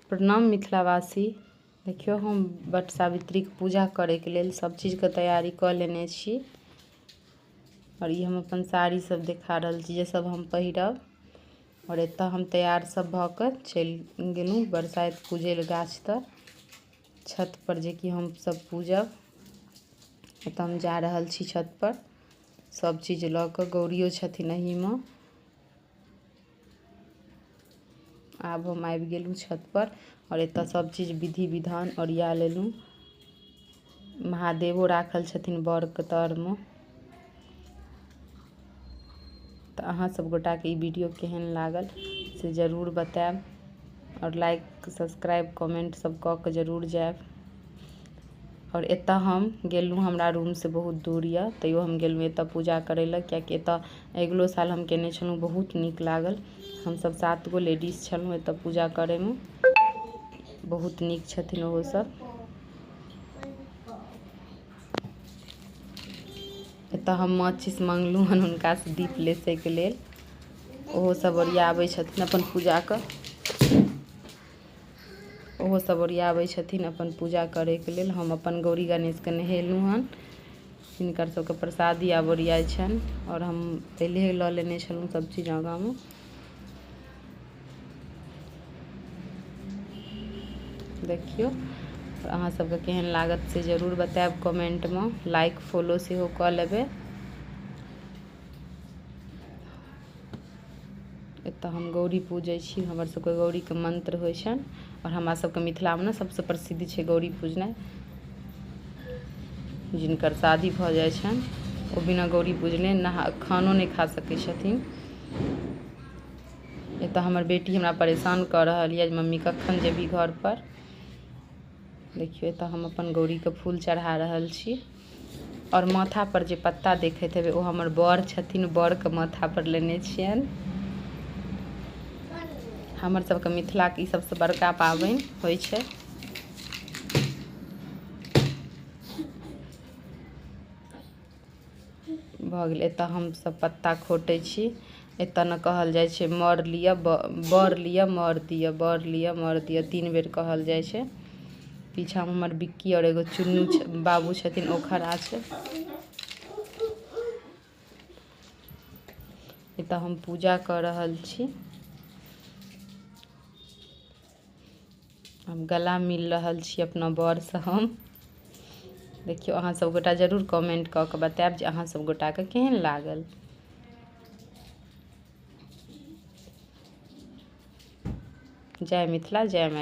प्रणाम मिथिलावासी देखियौ हम वट सावित्रीक पूजा करैके लेल सभ चीजके तैयारी कऽ लेने छी आओर ई हम अपन साड़ी सभ देखा रहल छी जे सभ हम पहिरब आओर एतऽ हम तैयार सभ भऽ कऽ चलि गेलहुँ बरसाइत पूजै लए गाछ तर छत पर जेकि हम सभ पूजब एतऽ हम जा रहल छी छत पर सभ चीज लऽ कऽ गौड़ियो छथिन एहिमे आब हम आबि गेलहुँ छतपर आओर एतय सभचीज विधि विधान ओरिया लेलहुँ महादेवो राखल छथिन बड़के तरमे तऽ अहाँ सभ गोटाके ई वीडियो केहन लागल से जरूर बतायब आओर लाइक सब्सक्राइब कमेंट सभ कऽ कऽ जरूर जायब आओर एतऽ हम गेलहुँ हमरा रूमसँ बहुत दूर यऽ तैयो हम गेलहुँ एतऽ पूजा करै लए किएकि एतऽ अगिलो साल हम कयने छलहुँ बहुत नीक लागल हमसब सात गो लेडीज छलहुँ एतऽ पूजा करैमे बहुत नीक छथिन ओहो सब एतऽ हम माचिस मङ्गलहुँ हन हुनकासँ दीप लेसैके लेल ओहो सब ओरियाबै छथिन अपन पूजाके ओहो सब ओरियाबै छथिन अपन पूजा करैके लेल हम अपन गौरी गणेशके नहेलहुँ हन हिनकर सबके प्रसादी आब ओरियाइ छनि आओर हम पहिले लऽ लेने छलहुँ सब चीज आगाँमे देखियौ अहाँ सबके केहन लागत से जरूर बतायब कमेंटमे लाइक फॉलो सेहो कऽ लेबै एतऽ हम गौड़ी पूजै छी हमर सबके गौड़ीके मन्त्र होइ छनि आओर हमरा सबके मिथिलामे ने सबसँ प्रसिद्ध छै गौड़ी पूजनाइ जिनकर शादी भऽ जाइ छनि ओ बिना गौड़ी पूजने नहा खानो नहि खा सकै छथिन एतऽ हमर बेटी हमरा परेशान कऽ रहल यऽ जे मम्मी कखन जेबही घरपर देखियौ एतऽ हम अपन गौड़ीके फूल चढ़ा रहल छी आओर माथा पर जे पत्ता देखैत हेबै ओ हमर बड़ छथिन बड़के माथा पर लेने छियनि हमर सबके मिथिलाके ई सबसँ बड़का पाबनि होइ छै भऽ गेलै एतऽ हमसब पत्ता खोटै छी एतऽ ने कहल जाइ छै मर लिअ बर लिअ मर दिअ बर लिअ मर दिअ तीन बेर कहल जाइ छै पीछाँमे हमर बिक्की आओर एगो चुन्नू छै बाबू छथिन ओ खड़ा छै एतऽ हम पूजा कऽ रहल छी हम गला मिल रहल छी अपना बरसँ हम देखियौ अहाँ सभ गोटा जरूर कमेंट कऽ कऽ बतायब जे अहाँ सभ गोटाके केहन लागल जय मिथिला जय मैथिली